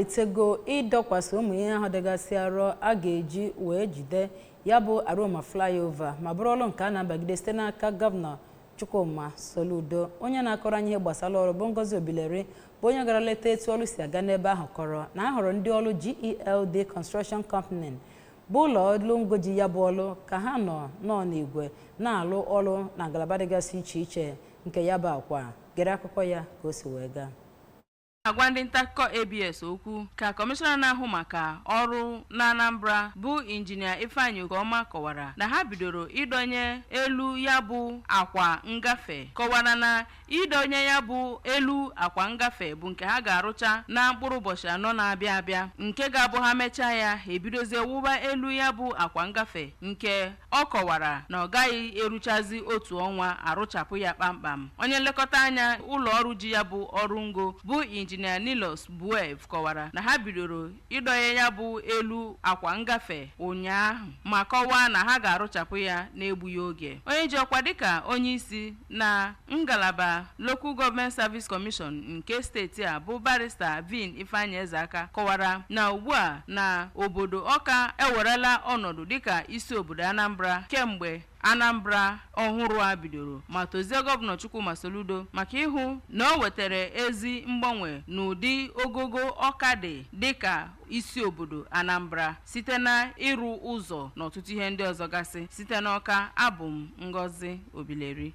amalitego ịdọkwasị ụmụ ihe ahụ dịgasị arọ a ga-eji wee jide ya bụ Aroma flyover ma bụrụ ọrụ nke a na-abagide site n'aka gọvanọ Chukwuma Soludo onye na-akọrọ anyị ihe gbasara ọrụ bụ Ngozi Obileri bụ onye gara leta etu ọrụ si aga n'ebe ahụ kọrọ na a hụrụ ndị ọrụ GELD Construction Company bụ ụlọ ọrụ ngo ji ya bụ ọrụ ka ha nọ nnọọ n'igwe na-alụ ọrụ na ngalaba dịgasị iche iche nke ya bụ akwa gere akụkọ ya ka o si wee gaa agwa ndị ntakụkọ abs okwu ka kọmishọna na-ahụ maka ọrụ na anambra bụ injinia ifeanyị okoma kọwara na ha bidoro ịdọnye elu ya bụ akwa ngafe kọwara na ịdọnye ya bụ elu akwa ngafe bụ nke ha ga-arụcha na mkpụrụ ụbọchị anọ na-abịa abịa nke ga-abụ ha mechaa ya ha ebidozie wụba elu ya bụ akwa ngafe nke Ọ kọwara na ọ gaghị eruchazi otu ọnwa arụchapụ ya kpamkpam. Onye nlekọta anya ụlọọrụ ji ya bụ ọrụ ngo bụ Injinia Nilos Buev kọwara na ha bidoro ịdọnye ya bụ elu akwa ngafe ụnyaahụ ma kọwaa na ha ga-arụchapụ ya n'egbughị oge. Onye ji ọkwa dịka onyeisi na ngalaba Local Government Service Commission nke steeti a bụ barista Vin Ifeanyi Ezeaka kọwara na ugbu a na obodo Ọka ewerela ọnọdụ dịka isi obodo Anambra kemgbe Anambra ọhụrụ a bidoro ma tozie gọvanọ Chukwuma Soludo maka ịhụ na o wetara ezi mgbanwe n'ụdị ogogo Ọka dị dịka isi obodo Anambra site na ịrụ ụzọ na ọtụtụ ihe ndị ọzọ gasị. Site n'Ọka, abụ m Ngozi Obileri.